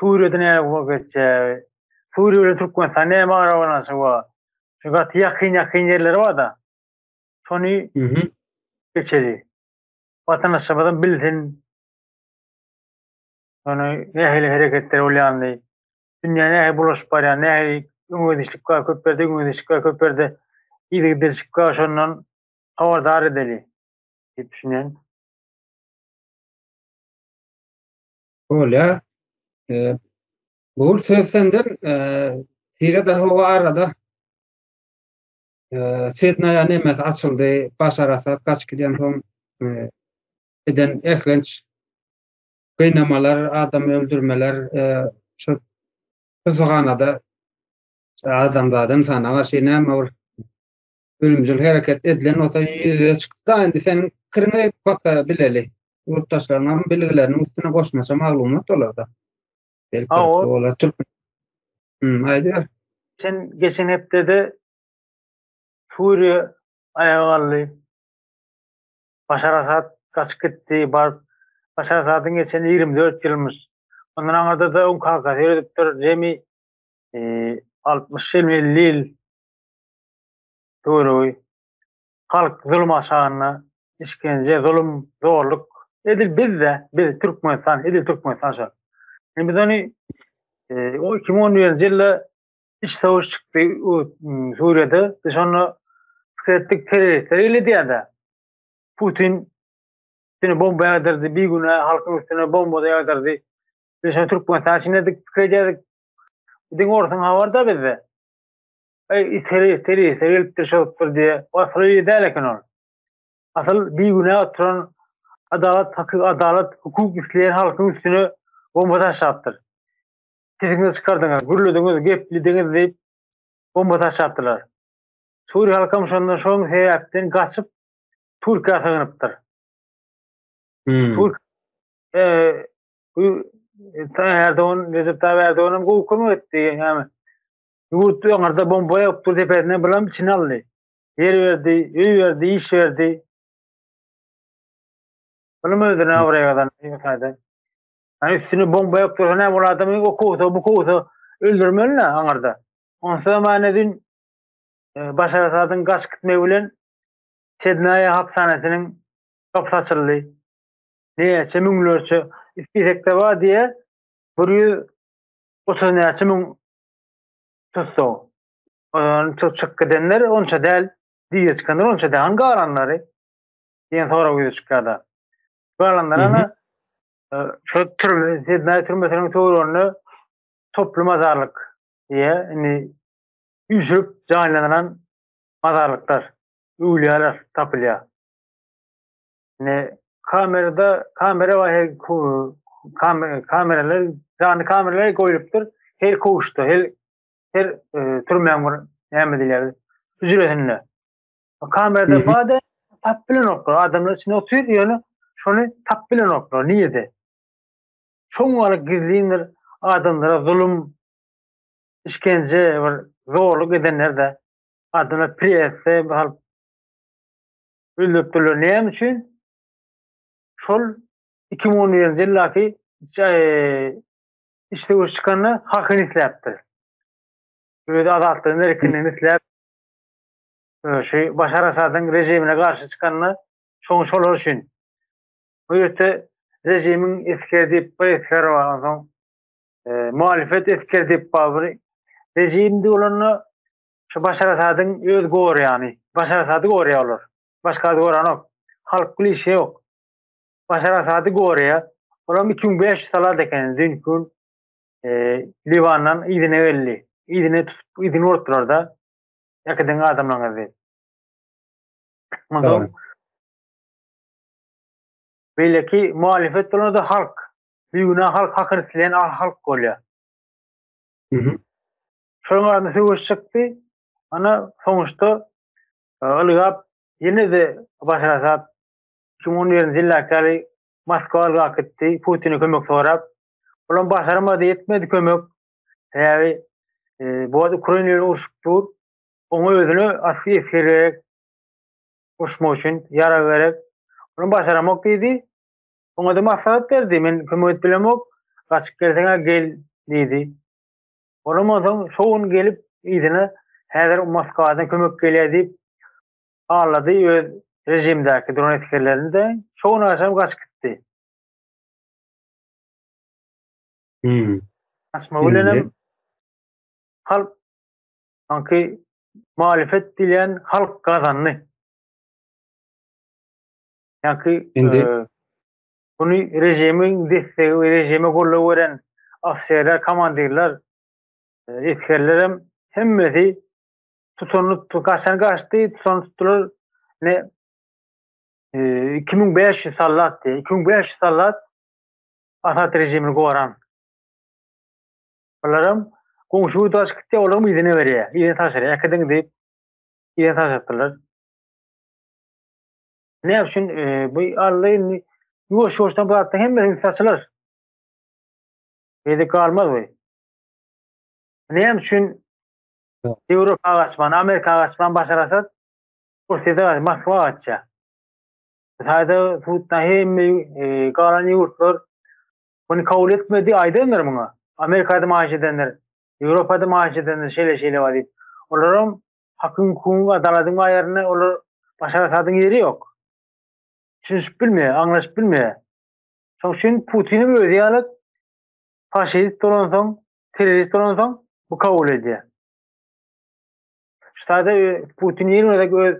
Suriýada näme bolup geçýär? Suriýa bilen Türkmenistan näme arabalanşygy bar? Şu gaty ýakyn-ýakyn ýerleri bar-da. Şony geçeli. Watandaşlarymyzam bilsin. Ýöne nähili hereketler bolýandy? Dünýä nähili bulaşyp barýar? Nähili öňegidişlik bar? Köp ýerde öňegidişlik bar, köp ýerde yzygiderçilik bar. Şondan habardar edeli diýip düşünýän. Bolýa. Bugul söz senden Tire de hava arada Sidnaya nemes açyldy, Başar Asad gaç giden soň eden ehlenç gynamalar, adam öldürmeler şu tusuganada adamzadan sana garşy näme bir ölümcül hereket edilen bolsa ýüze çyksa indi seniň pikiriňi paka bileli. Ýurtdaşlaryňam bilgileriniň üstüne goşmaça maglumat olarda. Belki olar türk. Hmm, aýdyr. Sen geçen hepdede Suriýa aýaga galdy. Başar Asad gaçyp gitdi, bar. Başar Asadyň geçen 24 ýylmyş. Ondan aňyrda da oň kakasy ýöredipdir. Jemi 60 ýyl, 50 ýyl Buyrugy, Halk zulum aşagynda işgence, zulum, zorluk, edil biz-de, biz, Türkmenistan, edil Türkmenistan şol. Indi biz ony o iki müň on birinji ýylda iç söweş çykdy Suriýada, biz şonda pikir etdik terroristler eýledýär-de. Putin üstüne bomba ýagdyrdy, bigünä halkyň üstüne bomba ýagdyrdy. Biz şonu Türkmenistan üçin edik, pikir edýärdik. Diňe orsuň habar-da bizde. Eý, it heri, serişde gelipdir, çykypdyr diýe, wasplar eýe däl eken ol. Asyl bigünä oturan adalat, hakyky adalat, hukuk isleýän halkyň üstüne bomba taşlapdyr. Sesiňizi çykardyňyz, gürlediňiz, geplidiňiz diýip, bomba taşlapdylar. Suriýa halkam şonda şoň sebäpden gaçyp, Türkiýä sygynypdyr. Türk, e, Erdogan, Recep Tayyip Erdogan hem gowy kömek etdi. Yani, Ýurt öňarda bomba ýokdur depesine bilam çin aldy. Ýer berdi, öý berdi, iş berdi. Bilim özüne abraý gazandy bu taýda. Hani üstüne bomba ýokdur, näme bol adamy o kowsa, bu kowsa öldürmeli aňarda. Onsa da many din e, Başar Asadyň gaç gitmegi bilen Sednaýa hapsanasynyň gapysy açyldy. Näçe müňlerçe istekde bar diýe 130 näçe müň Tusso. Olar çyk çyk gidenler onça däl, diýe çykanlar onça däl, galanlary diýen sorag ýüze çykýar-da. Galanlara şu türme, Sidney türmesiniň töwereginde toply mazarlyk diýe, indi üýşürip jaýlanylan mazarlyklar, öwlüýäler tapylýar. Ne kamerada kamera var her kameralar canlı kameralar koyulupdur her kuşta her her e, türmen var ne diler hücresinde kamerada var da tap bilen oklar adamlar içinde oturuyor yani şunu tap bilen oklar niye de çoğun alıp gizliyindir adamlara zulüm işkence var zorluk edenler de adamlar priyetse bir Gözläpdirler näme üçin? Şol iki müň on birinji ýyldaky iç söweş çykanda hakyny isläpdir. Öz azatlygyny erkinligini isläp şu Başar Asadyň režimine garşy çykanda şoň şolar üçin. Bu ýerde režimiň esgeri diýip bir esgeri bar onsoň muhalefet esgeri diýip bar bir režimdi bolanda Şu Başar Asadyň öz gorýany. Başar Asady gorýär olar. Başgasy goranok. Halk bil işe ýok. Başar Asady gorýär. Olam iki müň bäş ýüz salat eken düýnki gün Liwandan yzyna geldi. Yzyny tutup yzyny urupdyrarda. Äkidiň adamlaňyz diýip. Onsoň beýleki muhalefet bolanda halk. Bigünä halk hakyny isleýän halk bolýar. Şonuň arasynda söweş çykdy. Ana, soňuşda ylgap, ýene-de baş ýasap, iki müň on birinji ýyldaky ýaly Moskwa ylgap gitdi, Putine kömek sorap. Olam başarmady, etmedi kömek. Sebäbi bu wagt Ukraina bilen urşup dur. Oňa özüne asly esger gerek. Urşmak üçin ýarag gerek. Olam başaramok diýdi. Oňa-da maslahat berdi, men kömek edip bilemok, gaçyp gelseň-ä gel diýdi. Onam onsoň şo gün gelip yzyna häzir Moskwadan kömek gelýär diýip hallady öz režimdäki dron esgerlerini-de, şo gün agşam gaçyp gitdi. Hümm. Gaçmagy bilenem halk sanki muhalefet diýilýän halk gazandy. Ýanki indi Muny režimiň dessegi we režime goldaw beren ofserler, komandirler, esgerlerem hemmesi tutanyny tutdy, gaçany gaçdy, tutany tutdular. Ne 2500 sallat diye, 2500 sallat Asad rejimini goran. Olaram goňşy ýurda açyp gitdi, olaram yzyna berýär, yzyna taşyrýar. Äkidiň diýip, yzyna taşypdyrlar. Ne üçin e, bu Alla indi ýuwaş ýuwaşdan bu zatda hemme üns açylar. Ýedi galmaz bu. Ne üçin Ýewropa gaçman, Amerika gaçman başar asat bu size Moskwa gaçja. Sayda tutna hemme e, galan ýurtlar bunu kabul etmedi aýdanlar muňa. Amerikada maaş edenler, Ýewropada maaş edenler şeýle şeýle bar diýip. Olaram Hakyň hukugyň adalatyň bar ýerinde olar Başar Asadyň ýeri ýok. Düşünişip bilmeýär, aňlaşyp bilmeýär. Şoň üçin Putinim özi ýaly faşist bolansoň, terrorist bolansoň bu kabul edýär. Ştada Putin ýene gezek öz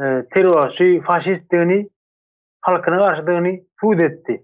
e, terrorçy, faşistdigini, halkyna garşydygyny subut etdi.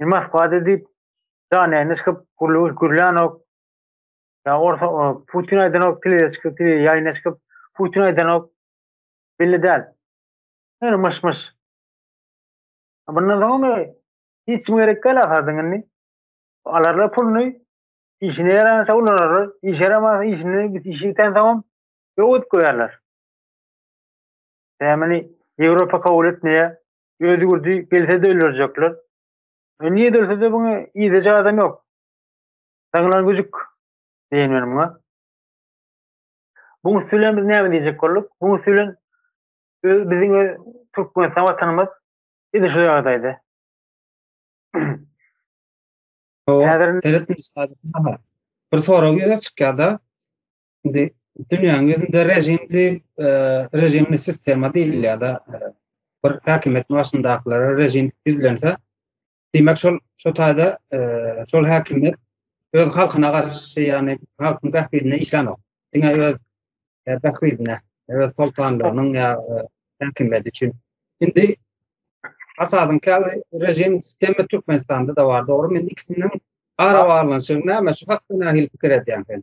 Nimas gady diýip janäýini çykyp gürlügiş gürlänok. Ya orta Putin aýdanok tiliye çykyp tiliye ýaýyna çykyp Putin aýdanok. Belli däl. Her myş myş. Bundan soňmy hiç kim gerek däl ahyrdan indi. Alarlar puluny işine ýarança ulanarlar. Işe ýaramasa işini bit işi biten soňam ýok edip goýarlar. Dämini Ýewropa kabul etmeýär. Özi gürdi gelsede öldürjekler. E niye dölsede bunu iyice adam yok. Saňlan gücük diýen men muňa. Buň üstü bilen biz näme diýjek bolduk? Buň üstü bilen biziň öz Türkmenistan watanymyz indi şu ýagdaýda. Häzir bir sorag ýüze çykýar-da. Indi dünýäniň ýüzünde režimli, e, režimli sistema diýilýär-de, e, bir häkimiýet başyndakylara režim ýüzlense, diýmek şol şu taýda e, şol häkimiýet öz halkyna garşy, ýagny halkyň bähbidine işlänok. Diňe öz e, bähbidine, öz soltanlygynyň ýa häkimiýeti üçin. Indi Asadyň käli režim sistemi Türkmenistanda da bar, dogry. Men ikisiniň ara baglanyşygy näme? Şu hakda nähili pikir edýäň sen?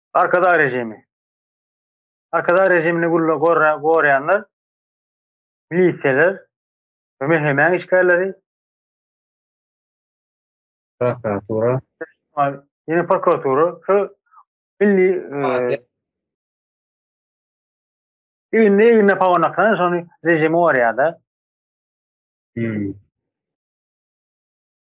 Arkadag režimi. Arkadag režimini gülle gorýanlar milisiýalar we mehemäň işgärleri. Prokuratura. Ýene prokuratura. Şu milli Indi indi pawanakdan şony rejimi gorýar-da. Hmm.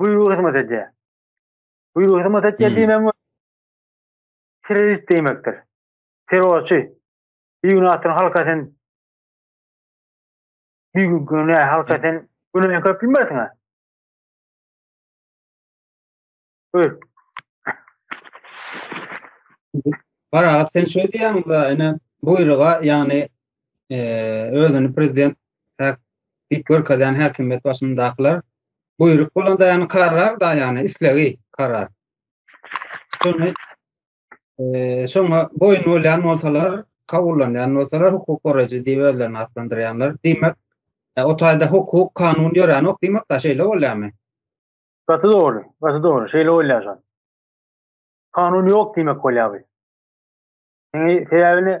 buýrugy hyzmat edýär. Buýrugy hyzmat edýär diýmegiň terrorist diýmekdir. Terrorçy. Bir gün atyn halka sen bir gün güne halka sen güne köp bilmersiň. Öl. Bara sen şöyle diýýäň, ene buýruga, ýagny özüni prezident diýip görkezýän häkimiýet başyndakylar buýruk bolan daýany karar da ýani islegi karar. Şony şoňa boýun bolýan bolsalar, kabullanýan bolsalar hukuk goraýjy diýip özlerini atlandyrýanlar. Diýmek, o taýda hukuk, kanun ýöränok diýmek da şeýle bolýarmy? Gaty dogry, gaty dogry. Şeýle bolýar. Kanun ýok diýmek bolýar bu. Sebäbini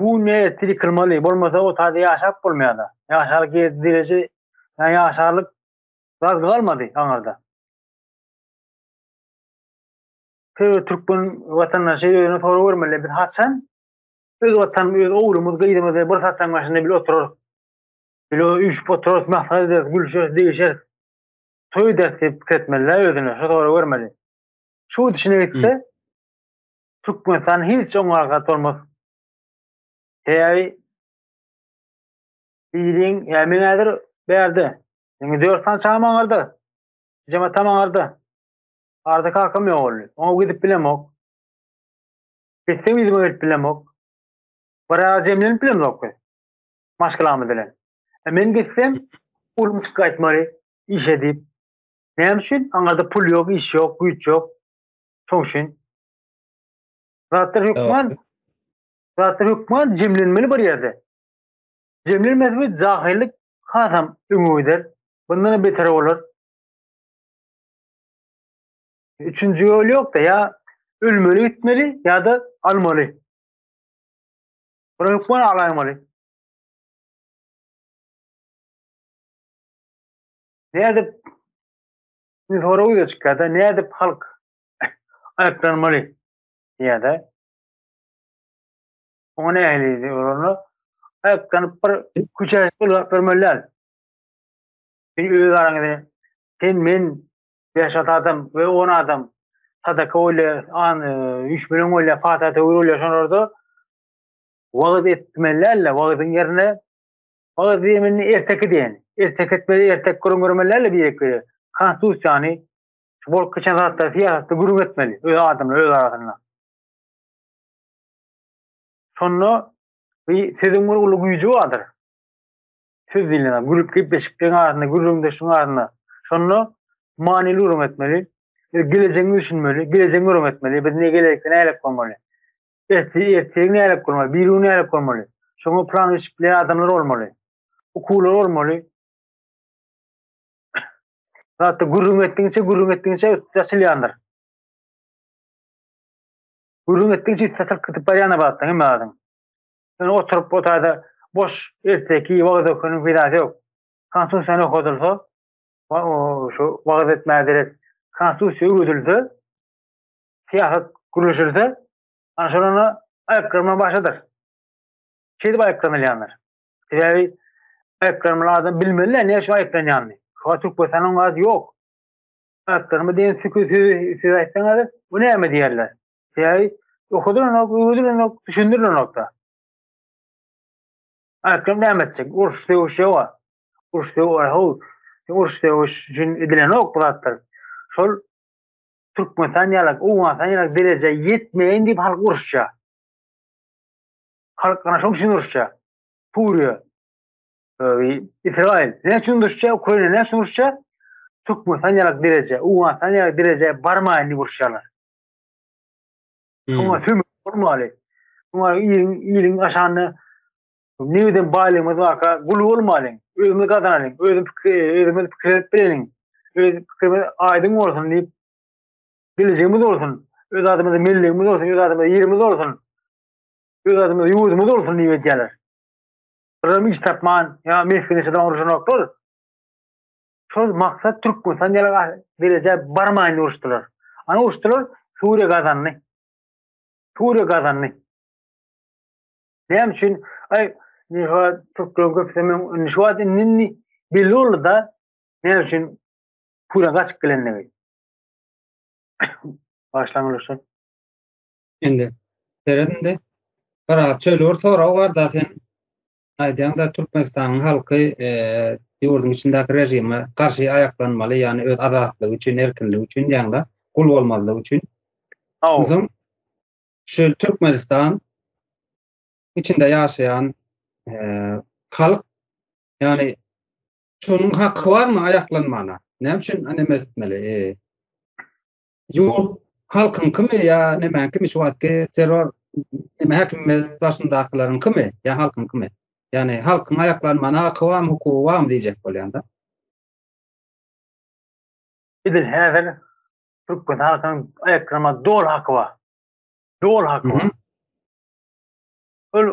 Bu ne tiri kylmaly bolmasa otade ýaşap bolmaýada ýaşaly gezdi direje ýa ýaşarlyk zagdy galmady aňarda. Her türkmen watandaşy özüne sorag bermeli biz haçan öz watan öz owlumyz gyzymyzy bir saçaň başynda bil oturar. Bilo üýşüp oturar mahsar eder gülşer degişer. Toý eder diýip pikir etmeli özüne şu sorag bermeli. Şu dişine gitse Türkmenistan hiç oňa arka tormos heý Siziň ýa meň häzir bärde. Meň dört sany çagam aňarda. Jijem atam aňarda. Arda kakam ýok oldy. Oňa gidip bilemok. Gitsem ýüzüme gelip bilemok. Bir ara jemlenip bilemzok biz. Maşgalamyz bilen. E men gitsem ulum çyk gaýtmaly işe diýip. Näme üçin? Aňarda pul ýok, iş ýok, güýç ýok. Şoňşin. Zatlar hökman. Zatlar hökman jemlenmeli bir ýerde. Jemlenmez bir jahillik hasam öňe gider. Bundan beter bolar. Üçünji ýol ýok-da ýa ölmeli gitmeli ýa-da almaly. Bura hökman alaýmaly. Nädip Şimdi soragy ýüze çykýar-da, nädip halk aýyplanmaly diýýär-de. Oňa nähili olanda aýyplanyp bir küçä ulag bermeli däl. Sen öz araňda sen men beş at adam we on adam sadaka bolýa, an e, üç bilen bolýa, fata töwür bolýa şolarda wagyz etmeli däl-de, wagyzyň ýerine Olar zeminini erteki diýen. Ertek etmeli, ertek gürrüň bermeliler-le birek-bire. Konstitusiýany, şu bolup geçen zatlary, syýasaty gürrüň etmeli öz adamlar öz arasynda. Şonda bi sözüň bir uly güýji bardyr. Söz diýlen zat, gürrüp gepleşikleň arasynda, gürrüňdeşligiň arasynda. Şonda manyly gürrüň etmeli. Biz gelejegiňi düşünmeli, gelejegi gürrüň etmeli. Biz ne gelelikde nälik bolmaly? Ertesi ertesi nälet bolmaly, biri gün nälet bolmaly. Şoňa plan işikli adamlar bolmaly. Ukular bolmaly. Hatta gürrüň etdiňçe, gürrüň etdiňçe üstü açylýandyr. Gürrüň etdiňçe üstü açylyp gidip barýan abatda hem adyň. Sen oturup otayda boş erteki wagt okunyň peýdasy ýok. Konstitusiýany okadylsa, şu wagt etmäge derek konstitusiýa öwredilse, syýasat gürleşilse, ana şol onda aýakgyrma başydyr. Şeýdip aýaklanylýandyr. Sebäbi aýaklanmaly adam bilmeli-dä ne üçin aýaklanýanyny. Şuňa Türkmenistanyň gazy ýok. Aýaklanma diýen sökü sözi söz aýtsaňyz, bu näme diýerler. Sebäbi okudylanok, öwüdilenok, düşündirilenok-da. Aýaklanma näme etjek? Uruş, söweş ýoga. Uruş, söweş, uruş, söweş üçin edilenok bu zatlar. Şol Türkmenistan ýalak, Owganystan ýalak derejä ýetmeýin diýip halk uruşýar. Halk ana şoň üçin uruşýar. Suriýa, Israil ne üçin uruşýar, Ukraina ne üçin uruşýar? Türkmenistan ýalak derejä, Owganystan ýalak derejä barmaýyn diýip uruşýarlar. Şoňa hmm. tüm bolmaly. Şoňa iliň, iliň aşanda Newden baýlygymyz barka gul bolmalyň. Özümiz gazanalyň. Özüm pikir, özümiz pikir edip bileliň. Öz pikirimiz aýdyň bolsun diýip geljegimiz bolsun. Öz adymyz milligimiz bolsun, öz adymyz ýerimiz bolsun. Öz adymyz ýurdumyz bolsun diýip edýärler. Biram iş tapman, ýa mesgene çydan uruşanoklar. Şol maksat Türkmenistan ýaly derejä barmaýan uruşdylar. Ana uruşdylar, Suriýa gazandy. Suriýa gazandy. Näme üçin? Aý, Niha türklerin köpüsi men indi şu wagt indi indi belli boldy da näme üçin pura gaçyp gelendigi. Başlaň oluşan. Indi seredinde bir az çöli bir sorag bar da sen aýdýaň da Türkmenistanyň halky e, ýurduň içindäki režime garşy aýaklanmaly, ýagny öz azatlygy üçin, erkinligi üçin diýýäň da, gul bolmazlyk üçin. Haw. Onsoň şu Türkmenistan içinde ýaşaýan halk ýani şonuň haky barmy aýaklanmana? Näme üçin näme etmeli? Ýurt halkyň kimi ýa näme kimi şu wagtky terror näme häkimiýet başyndakylaryň kimi ýa halkyň kimi? Ýani halkyň aýaklanmana haky barmy, hukugy barmy diýjek bolýan-da. Edil häzir Türkmen halkynyň Ekrema dol haky bar. Dol haky bar. Ol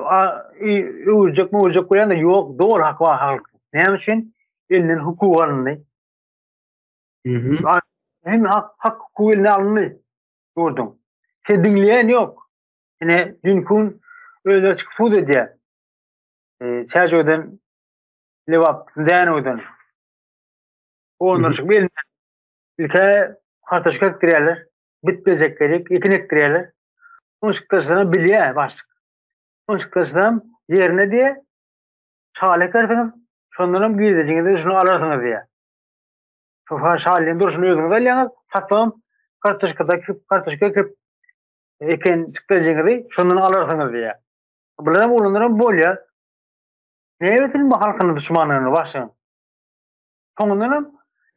öwürjek mi öwürjek bolýan da ýok, dol haky bar halk. Näme üçin? Elinden hukuk alyndy. Hem hak, hak hukuk eline alyndy. Gördüň. Sen diňleýän ýok. Ine, dünkün özleri çykyp sud edýär. E, Çäjewden, Lebap, Dänewden. Onlar çıkıp elinden Ilki kartoşka ekdirýärler, bit-bezek gerek, ekin ekdirýärler. Soň çykdaşlaram bilýär başlyk. Soň çykdaşlaram ýerine diýe şaly ekersiňiz, şondan hem girdejiňizi şunu alarsyňyz diýýär. Sofa şalynyň durşuny özüňiz alýaňyz, saçam kartoşkada kartoşka ekip eken çykdaşyňyzy şondan alarsyňyz diýýär. Bular hem olanlar hem bolýar. Näme etsin bu halkyň duşmanlaryny başyň? Soňundanam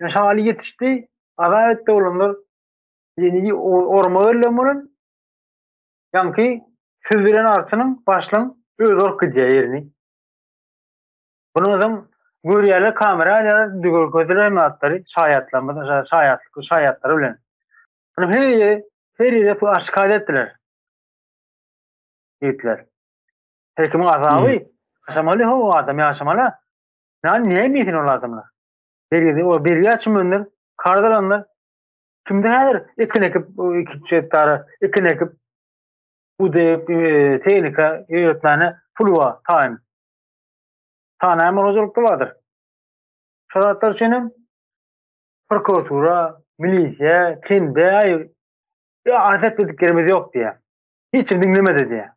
ýa şaly ýetişdi, azat etdi olanlar ýeni orma berlen bolan ýaňky süzülen arçynyň başlyň özi alyp gidýär ýerini. Bunu özüm görýärler, kamera alýarlar, indi görkezdiler hem atlary, şaýatlarymyz, şaýatlyk, şaýatlary bilen. Bunu her ýere, her ýere bu aşkada etdiler. Ýigitler. Her kimiň azaby, yaşamaly o adam, yaşamaly. Ýagny näme diýsin ol adamlar? Bergide ol bergä çümenler, karz alanlar. Kimde häzir ekin ekip, iki çetdara ekin ekip, budep, tehnika ýöretmäne pul bar, taýyn. Tanaýan hojalykda bardyr. Şol zatlar üçin hem prokuratura, milisiýa, kende, aý, arz etmediklerimiz ýok diýýär. Hiç kim diňlemedi diýýär.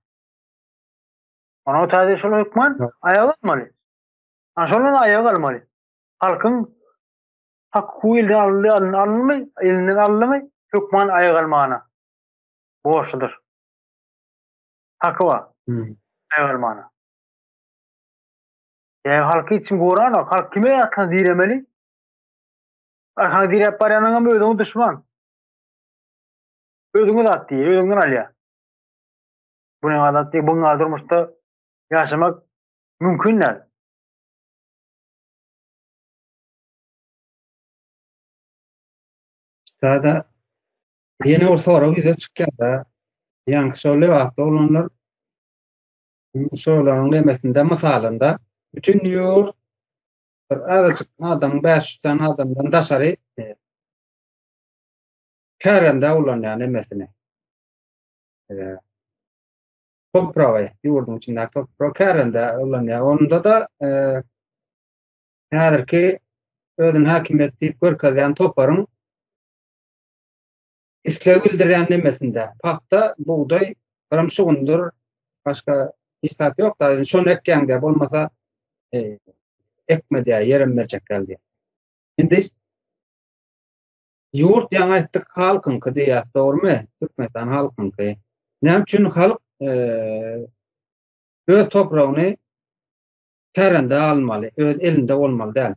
Onuň ötesi şol hökman aýalanmaly. Ana şondan aýak almaly. Halkyň haky elden alyndy, alyndy, elinden alyndy, hökman aýak almana borçludyr. Haky bar. Aýak almana. Ýa halky hiç kim goranok. Halk kime arkasyna diremeli? Arkaňy diräp barýanyňam özüňe duşman. Özüňe zat diýýär, özüňden alýar. Bu ne adat diýip, bu durmuşda ýaşamak Mümkin däl. Sada ýene bir sorag ýüze çykýar-da. Ýaňky şol lebaply oglanlar şolaryň nemesinde mysalynda bütün ýurt bir azajyk adam 500 sany adamdan daşary e, kärende ulanýar nemesini. E, topragy, ýurduň içinde toprak kärende ulanýar. Onda da e, häzirki özüni häkimiýet diýip görkezýän toparyň isleg bildirýän nemesinde pagta, bugdaý, gram şugundyr, başga hiç zat ýok da, şony ekýäňde bolmasa e, ekme diýär, ýerem berjek geldi. Indi Ýurt ýaňy aýtdyk halkyňky diýýär. Dogrymy? Türkmenistan halkyňky. Näme üçin halk öz topragyny kärende almaly, öz elinde bolmaly däl.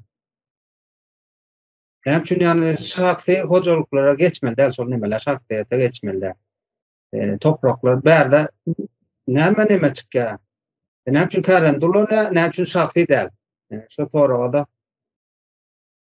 Näme üçin ýany şahsy hojalyklara geçmeli däl, şol nemeler şahsyýete geçmeli däl. E, topraklar bärde näme näme çykýar? E, näme üçin kärende ulanýar, näme üçin şahsy däl? E, şu soraga da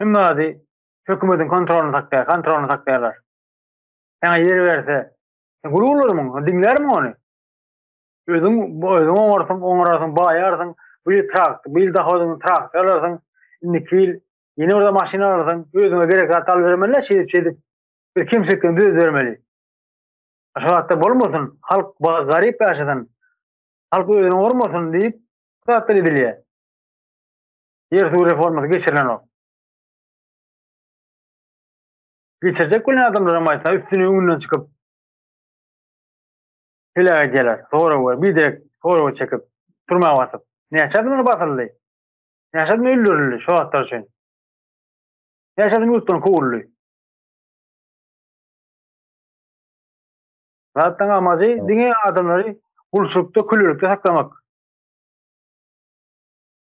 Hemme zady hökümediň kontrolyna sakýar, kontrolyna sakýarlar. Saňa ýer berse, sen gul bolarmyň, diňlärmiň ony? Özüň, özüň oňarsyň, oňararsyň, baýarsyň, bu ýyl trakt, bu ýyl dohodyňy traktor alarsyň, indiki ýyl ýene bir maşyn alarsyň, özüňe gerek zat alyp bermeli-dä, şeýdip, şeýdip, bir kemçiliklerini düzedip bermeli. Şo zatda bolmasyn, halk garyp ýaşasyn, halk özüni oňarmasyn diýip, bu zatlar edilýär. Ýer suw reformasy geçirilenok. Geçirjek bolan adamlaram aýtsa üstüni öňünden çykyp heläk edýärler. Soraga, biderek soraga çekip, türmä basyp. Näçe adamlar basyldy? Näçe adam öldürildi şo zatlar üçin? Näçe adam ýurtdan kowuldy? Zatlaryň amajy diňe adamlary gulçulykda, kölelikde saklamak.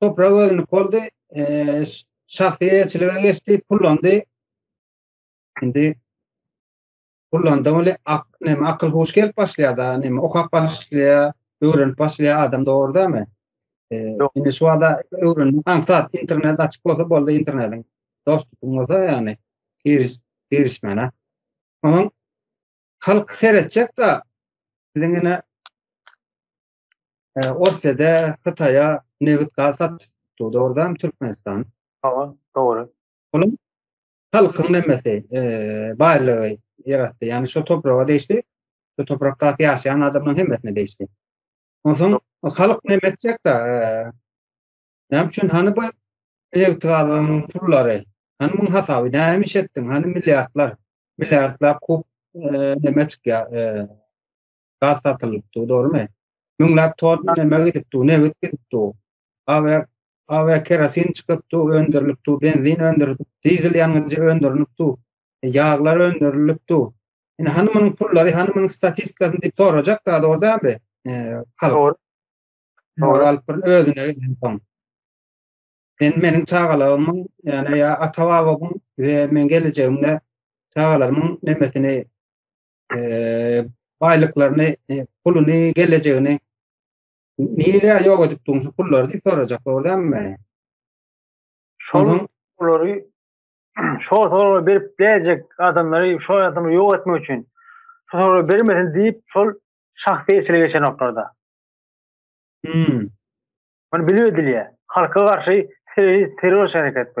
toprak özünik boldy. Eee, şahsy eýeçilige geçdi, pullandy. Indi pullanda ol ak, näme akyl huş gelip başlaýar-da, näme okap başlaýar, öwrenip başlaýar adam dogrudanmy? Eee, Ýok. indi şu wada öwrendim. Aňsat internet açyk bolsa boldy internetiň. Dostupyň bolsa ýagny giriş girişmäne. Onuň halk seretjek-de biziň ine E, Orsede Hytaýa nebit gaz satyp durdy. Oradan Türkmenistan. Hawa, dogry. Onuň halkyň nemesi, e, baýlygy ýaratdy. Ýani şu topraga degişli, şu toprakda ýaşaýan adamlaryň hemmesine degişli. Onsoň halk näme etjek da? E, näme üçin hany bu nebit gazyň pullary? Hany muň hasaby näme iş etdiň? Hany milliardlar, milliardlar kup e, näme çykýar? E, gaz satylypdy, dogrumy? Müňläp ton näme gidipdi, nebit gidipdi. Awer, awer kerosin çykypdy, öndürilipdi, benzin öndürilipdi, dizel ýangyjy öndürilipdi, ýaglar öndürilipdi. Indi hany munuň pullary, hany munuň statistikasyny diýip sorajak zat ordamy? Halk. Dogry. Alyp bir özüne gelip. Men meniň çagalarymyň, ýa ata-babamyň we men gelejegimde çagalarymyň nemesini baýlyklaryny, puluny, gelejegini nirä ýok edip durun şu pullary diýip sorajak dogrudanmy? Şonuň pulary şo sorag berip däjek adamlary şo adamy ýok etmek üçin şu sorag bermesin diýip şol şahsy esile geçen noktada. Hmm. Bunu bilip edilýär. Halka garşy terrorist terrorist hereket bu.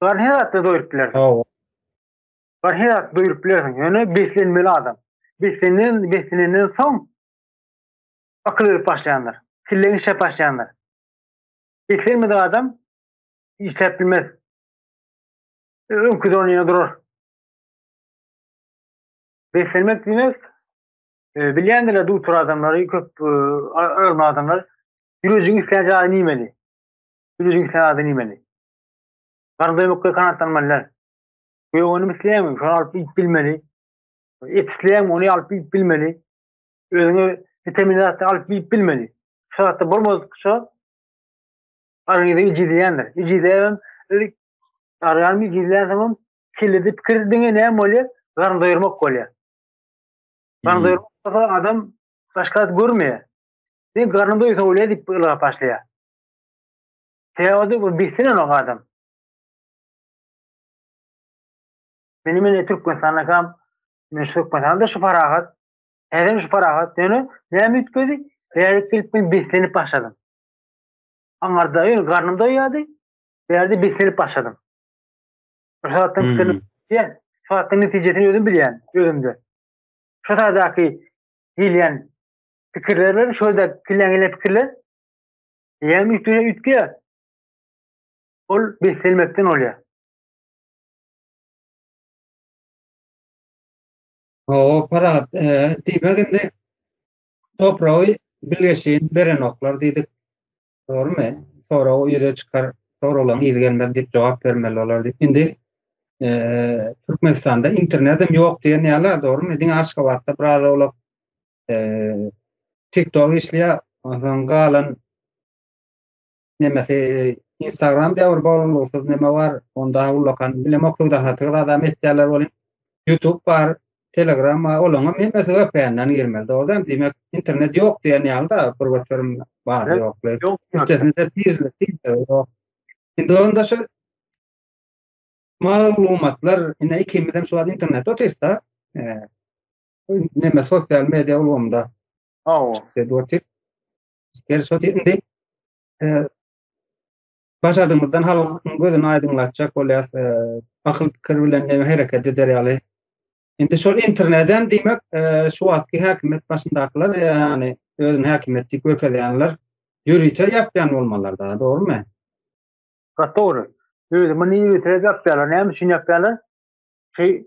Bar her zatda doýurup bilersiň. Hawa. Bar her zatda doýurup bilersiň. Ýöne beslenmeli adam. Beslenen, beslenenden soň akyl gelip başlaýandyr. Kelleň işläp başlaýandyr. Beslenmedik adam işläp bilmez. Öňki donyna durar. Beslenmek diýmek, e, bilýändirler dutur adamlary, köp e, ölme adamlar. Ýürejiň islän jaýy nimeli? Ýürejiň islän adam nimeli? Garry dömükge kanatlanmalylar. Göwünimi isleýäňmi? Şony alyp iýip bilmeli. Et isleýäňmi? Ony alyp iýip bilmeli. Özüňe witamin zatlar alyp iýip bilmeli. Şu zatda bolmadykça organizm ijizleýändir. Ijizleýän ilk organizm ijizleýän soň kellede pikir diňe näme bolýar? Garny doýurmak bolýar. Garny doýurmak bolsa adam başga zat görmeýär. Sen garny doýsa bolýar diýip ylgap başlaýar. Feoda bir bilsin ol adam. Meni meni Türkmenistanda kam men şu Türkmenistanda şu parahat. Häzir şu parahat. Yani ne mütkedi? Bärik gelip men beslenip başladım. Aňarda ýöne garnym doýýardy. Bärde beslenip başladım. Şu saatdan hmm. diýen, şu saatdan netijesini özüm bilýän, özümde. Şu saatdaky gelýän pikirler bilen şöyle gelen gelen pikirler Eýäniň üstüne üýtge. Ol beslenmekden bolýar. Hawa, parahat, e, diýmek indi topragy bilgeşin berenoklar diýdik. Dogrumy? Soragy ýüze çykar, soraglaryň yzy gelmez diýip jogap bermeli bolar diýip. Indi e, Türkmenistanda internetim ýok diýen ýaly, dogrumy? Diňe Aşgabatda biraz owlak Eee TikTok işleýär. Ondan galan nemesi Instagram diýär bir bolgusyz neme bar. Onda ullakan bilemok söwdahatygy adam etýärler bolýar. YouTube bar, Telegram bar. Olaň hem hemmesi VPN-den girmeli. Dogry hem diýmek internet ýok diýen ýaly-da bir göterim bar ýokly. Üstesinde tizlik diýilse ýok. Indi onda şu maglumatlar ine ikimiz hem şu wagt internetde otyrys-da. Eee neme sosial media ulgamda Aw. Dedi otyr. Geliş otyr indi. E, başardığımızdan halkyň gözüni aýdyňlatjak bolýar. E, akyl pikir bilen neme hereket eder ýaly. Indi şol internetden diýmek, e, şu wagtky häkimiýet başyndakylar, ýany özüni häkimiýet diýip görkezýänler ýörite ýapýan bolmalylar da, dogrumy? Gaty dogry. Özümi ýörite ýapýarlar, näme üçin ýapýarlar? Şey,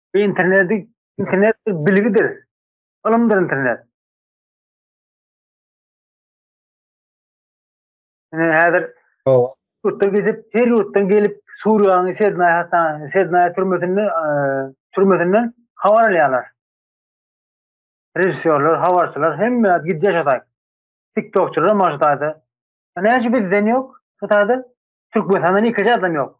Internet, internet bilgidir. Ylymdyr internet. Ine häzir ýurtda gezip, her ýurtdan gelip Suriýanyň Sednaýa hassahanasyna, Sednaýa türmesinde, e, türmesinden habar alýarlar. Režissýorlar, habarçylar hemme gidip ýaşaýar. TikTokçylar maşdaýda. Näçe bizden ýok? Hytaýda Türkmenistandan iki adam ýok.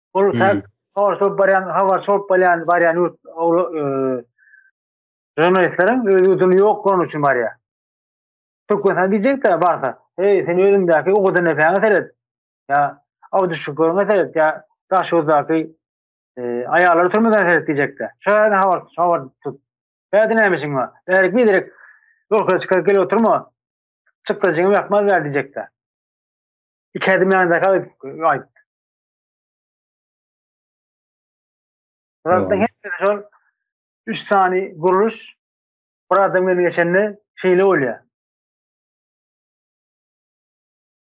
Ol sen sorsa baryan habar sorup baryan baryan yurt jurnalistleriň öz ýurduny ýok bolan üçin barýar. Türkmenistan diýjekdi barsa, hey sen özüňdäki ugudan näpäňe seret. Ýa Abdüşüküriňe seret, ýa Daşoguzdaky aýallar türmeden seret diýjekdi. Şu ýerde habar habar tut. Bäde näme işiň bar? Bärik bir direk ýolka çykaryp gelip oturma. Çykdajyňy ýakmaz bäri diýjekdi. Iki adım ýandaky aýt. Rabbim hepsi şol üç sani guruluş bir adam gelip geçende şeýle bolýar.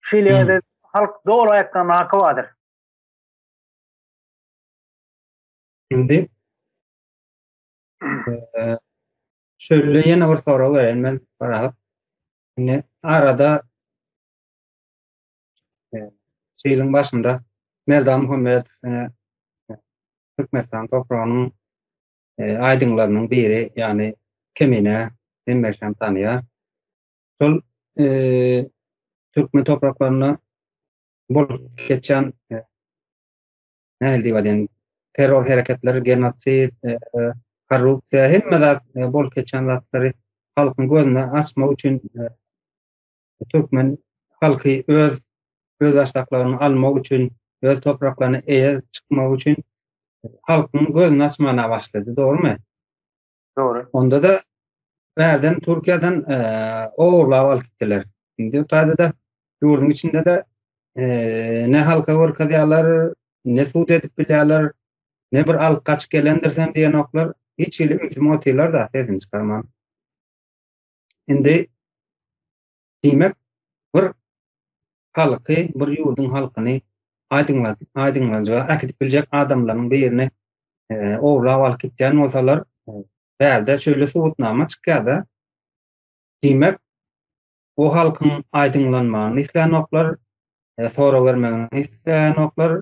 Şeýle ýerde halk doly aýakdan haky bardyr. Indi şöyle ýene bir sorag berýän men barap. Indi arada Şeýliň başynda Merdan Muhammedow ýene Türkmenistan topragynyň e, aýdyňlarynyň biri, ýagny Kemine hemmeşem tanýar. Şol e, türkmen topraklarynda bolup geçýän e, nähili diýip aýdýan terror hereketleri, genosid, e, e, korrupsiýa, hemme zat e, bolup geçýän zatlary halkyň gözüne açmak üçin e, türkmen halky öz özbaşdaklygyny almak üçin, öz topraklaryna eýe çykmak üçin halkyň gözüni açmana başlady, dogrumy? Dogry. Onda-da bärden Türkiýeden e, ogurlap alyp gitdiler. Indi taýda-da ýurduň içinde-de e, ne halka görkezýärler, ne sud edip bilýärler, ne bir alyp gaçyp gelendir sen diýen oklar hiç hili ümsüm otyrlar da sesini çykarman. Indi diýmek bir halky, bir ýurduň halkyny aýdyňlanjyga äkidip biljek adamlaryň birini e, owlap alyp gitýän bolsalar, e, bärde şöyle subutnama çykýar-da. Diýmek, o halkyň aýdyňlanmagyny isleýänoklar, e, sorag bermegini isleýänoklar.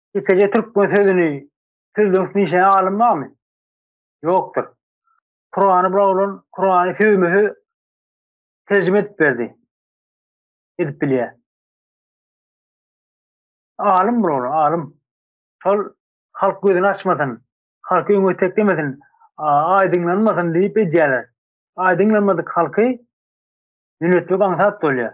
Ýekeje türkmen sözüni sözlügiň üstüne işlän alym barmy? Ýokdur. Kurany bula bolan Kurany sözme-söz terjime edip berdi. Edip bilýär. Alym bula bolan, alym. Şol halk gözüni açmasyn, halky öňe teklemesin, aýdyňlanmasyn diýip edýärler. Aýdyňlanmadyk halky ýönemek aňsat bolýar.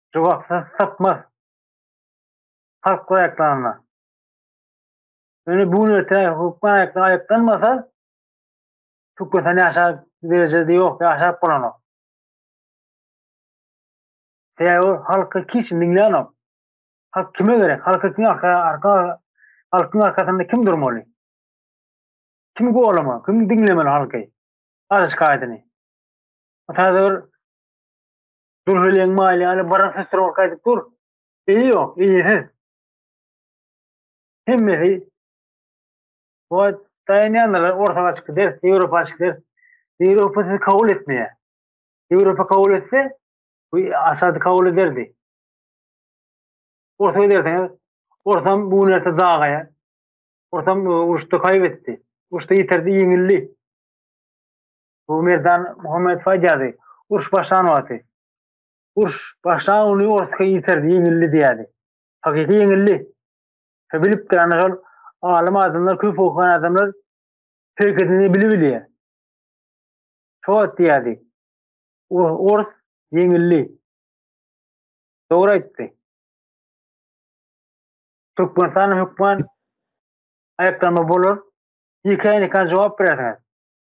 jogapsyz sypmaz. Halk aýaklarynda. Ýöne bu nete hökman aýakda aýaklanmasa, Türkmenistan ýaşap derejede ýok, ýaşap bolanok. Sebäbi halky hiç diňlänok. Halk kime gerek? Halka kim arka, arka, halkyň arkasynda kim durmaly? Kim golama? Kim diňlemeli halky? Arz şikaýatyny. Täze bir Dürheleň maýly ýaly baran hysrow gaýdyp dur. Yzy ýok, yzysyz. Hemmesi bu daýanýanlar orta gaçyp gider, Ýewropa gaçyp gider. Ýewropa sizi kabul etmeýär. Ýewropa kabul etse, bu Asady kabul ederdi. Orta giderseňiz, ortam bu gün erte dagaýar. Ortam e, uruşda kaybetdi. Uruşda ýitirdi, ýeňildi. Bu Merdan Muhammedow aýdýardy, Uruş başlan wagty. Uruş başlan güni Orusky ýitirdi, ýeňildi diýýärdi. Hakyky ýeňildi. Şo bilipdir, ana şol alym adamlar, köp okan adamlar herekedini bile bilýär. Şo wagt diýýärdi, Orus ýeňildi. Dogry aýtdy. Türkmenistanyň hökman aýaklanma bolar. Ýekeýneken jogap berersiňiz.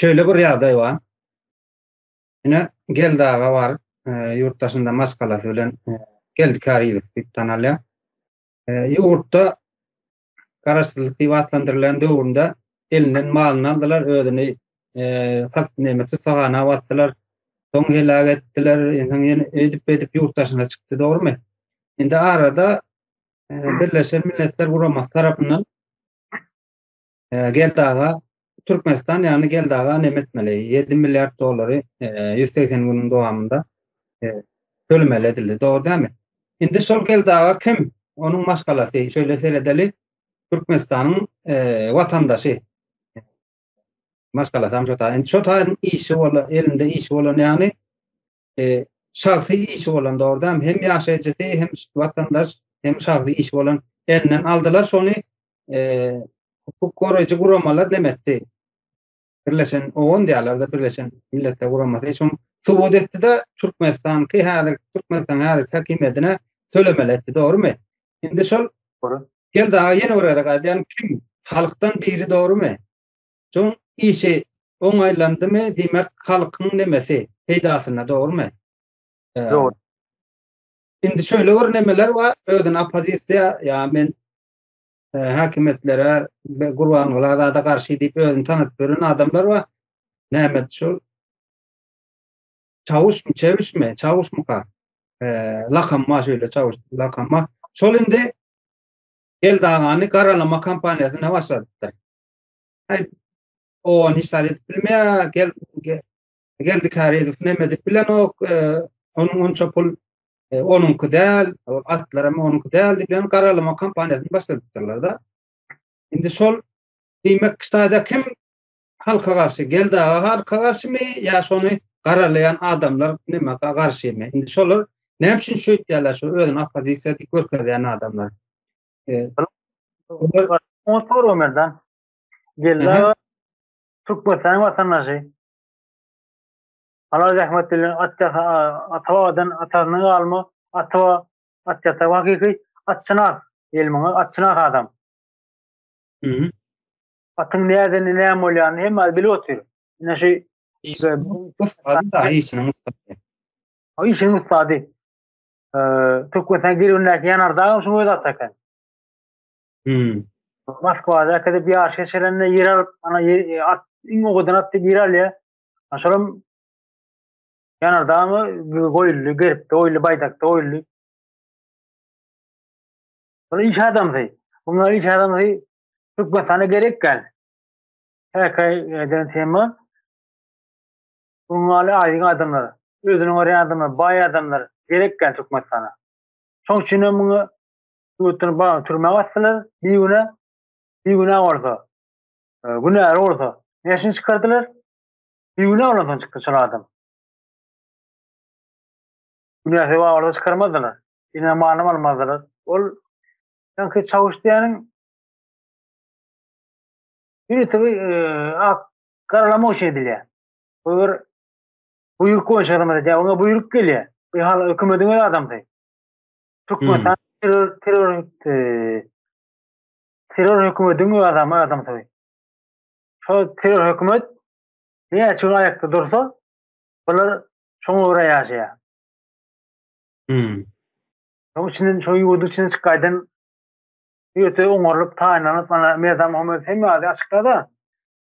Şöyle bir ýagdaý bar. Ine Geldi aga bar. Ýurt daşynda maşgalasy bilen Geldi Kariýew diýip tanalýar. Ýurtda garaşsyzlyk diýip atlandyrylan döwründe elinden malyny aldylar, özüni sat näme tussagana basdylar. Soň heläk etdiler, soň ýene öýdüp-beýdip ýurt daşyna çykdy, dogrumy? Indi arada Birleşen Milletler Guramasy tarapyndan Ee, Geldaga Türkmenistan ýagny Geldaga näme etmeli? 7 milliard dollary 180 e, günüň dowamynda e, tölemeli edildi. Dogry dämi? Indi şol Geldaga kim? Onuň maşgalasy şöyle seredeli. Türkmenistanyň e, watandaşy. Maşgalasy hem şota. Indi şota işi bolan, elinde işi bolan ýagny e, şahsy işi bolan dogrudan hem ýaşaýjysy hem watandaş hem şahsy işi bolan elinden aldylar şony e, hukuk goraýjy guramalar nemetdi birleşen owan diýarlarda birleşen milletler guramasy şon subut etdi de türkmenistanky häzir türkmenistan häzir häkimiýetine tölemeli etdi dogrumy indi şol gel daha ýene orada gaýdýan kim halkdan biri dogrumy Şoň işi oňaýlandymy, diýmek, halkyň nemesi peýdasyna, dogrumy? Dogry. Indi şöyle bir nemeler bar, özüni opozisiýa, ýa men e, häkimiýetlere we Gurbanguly Azada garşy diýip özüni tanadyp ýören adamlar bar. Näme şol çawuşmy, çewişmi, çawuşmyka? E, lakamma şöyle çawuş, lakamma. Şol indi Eldagany garalama kampaniýasyna başladypdyr. Ay, o hiç zat edip bilmeýär, gel, gel, geldi Karezow näme edip bilenok, e, onuň onça pul e, onuňky däl, o atlar hem onuňky däl diýip, ýöne garalama kampaniýasyny başladypdyrlar da. Indi şol diýmek, ştaýda kim halka garşy, gel daga halka garşymy, ýa şony garalaýan adamlar näme garşymy? Indi şolar näme üçin şeýtýärler, şu özüni oppozisiýa diýip görkezýän adamlar? Oňa sorum berden. Geldi. Türkmenistan watandaşy. Ala zähmet bilen atda atadan atadan galma atwa atda wakyky atçyna elmiňe atçyna adam. Mhm. Atyn näden näme bolýany hem bilip otyr. Ine şu işiniň ustady. Işiniň ustady. Türkmenistan girbindäki ýanardagam şu özat eken. Hmm. Moskwada äkidip ýaş geçirende ýer alyp, ana e, at iň owadan at diýip ýer alýar. Şolam ýanardagamy goýuldy, geripde goýuldy, baýdakda goýuldy. Şol iş adamsy. Bunlar iş adamsy Türkmenistana gerek gel. Häkaý eden tema. Gurbanguly aýdyň adamlar, özüni görýän adamlar, baý adamlar gerek däl Türkmenistana. Şoň üçin hem muňa ýurtdan bagyny türmä asdylar, bigünä, bigünä bolsa, günäli bolsa, näşini çykardylar? Bigünä bolansoň çykdy şol adam. Günäsi bar bolsa çykarmazdylar. Ine malynam almazdylar. Ol sanki çawyş diýeniň Ýöne tabi ak garalamak üçin edilýär. Bu bir buýruk boýunça hyzmat edýär, oňa buýruk gelýär. Bu hal hökümediň öz adamsy. Türkmenistan terror terror e, terror hökümediň öz adamy adamsy. Şo terror hökümet ne gün aýakda dursa, bular şoňa görä ýaşaýar. Hmm. Şoň üçin şo ýurduň içinden çyk gaýdan ýöte oňarlyp, taýynlanyp, mana Merdan Muhammedow hem ýazy açykda-da,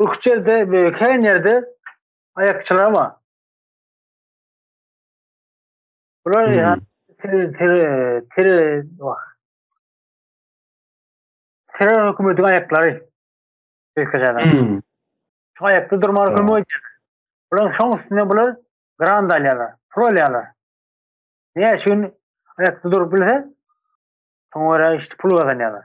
Ykjerde we kän ýerde aýakçylaram bar. Bular ýa tere tere tere wah. Tere hökümetiň aýaklary. Ýekejadan. Hmm. Şu aýakda durmaga Tamam. kömek edýär. Bular şoň üstüne bular grant alýarlar, pul alýarlar. Näçe gün aýakda durup bilse, şoňa görä işte pul gazanýarlar.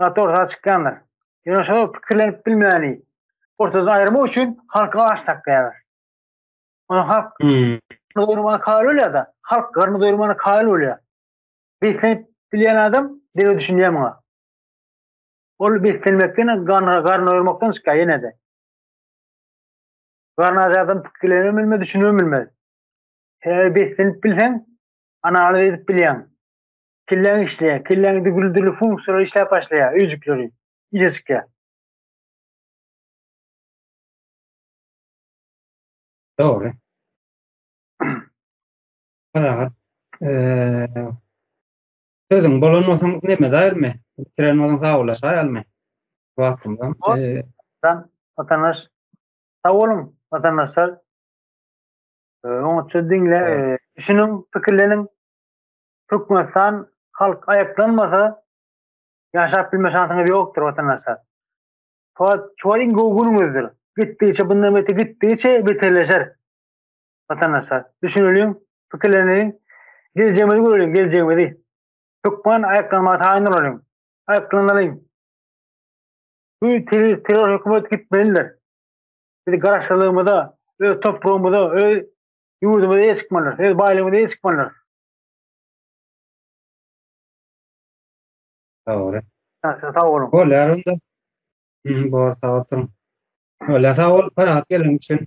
Gaty orta çykýandyr. Ýöne şo pikirlenip bilmäni ortadan aýyrmak üçin halky aç saklaýarlar. Ony halk doýurmana kaýyl bolýar-da, halk garny doýurmana kaýyl bolýar. Beslenip bilýän adam dile düşünýär muňa. Ol beslenmekden, garny doýurmakdan çykýar ýene-de. Garny aç adam pikirlenip bilmez, düşünip bilmez. Sebäbi beslenip bilseň, analiz edip bilýäň. Kelläň işleýär. Kelläňde dürli-dürli funksiýalar işläp başlaýar, öýjükleri ýüze çykýar. Dogry. Parahat. Eee. Sözüň bolan bolsaň näme daýyrmy? Bitiren bolsaň sagawlaşaýalmy? Wagtymyzam. Eee. Watandaş. Sag boluň, watandaşlar. Oňatja diňle, düşüniň, pikirleniň. Türkmenistan halk aýaklanmasa ýaşap bilme şansyňyz ýokdur watandaşlar. Soat şuwar iň gowy günüňizdir. Gitdigiçe bundan bete gitdigiçe beterleşer. Watandaşlar düşüneliň, pikirleniň. Geljegimizi göreliň, geljegimizi. Türkmen aýaklanmaga taýyn bolalyň. Aýaklanalyň. Bu terror hökümet gitmelidir. Biz garaşlylygymyza, öz topragymyza, öz ýurdumyza eýe çykmalydyrys, öz baýlygymyza eýe çykmalydyrys. Sagol. Sag sag bolun. Bolýar onda. Hmm, bor sag oturyň. Bolýar sag bol, parahat geliň üçin.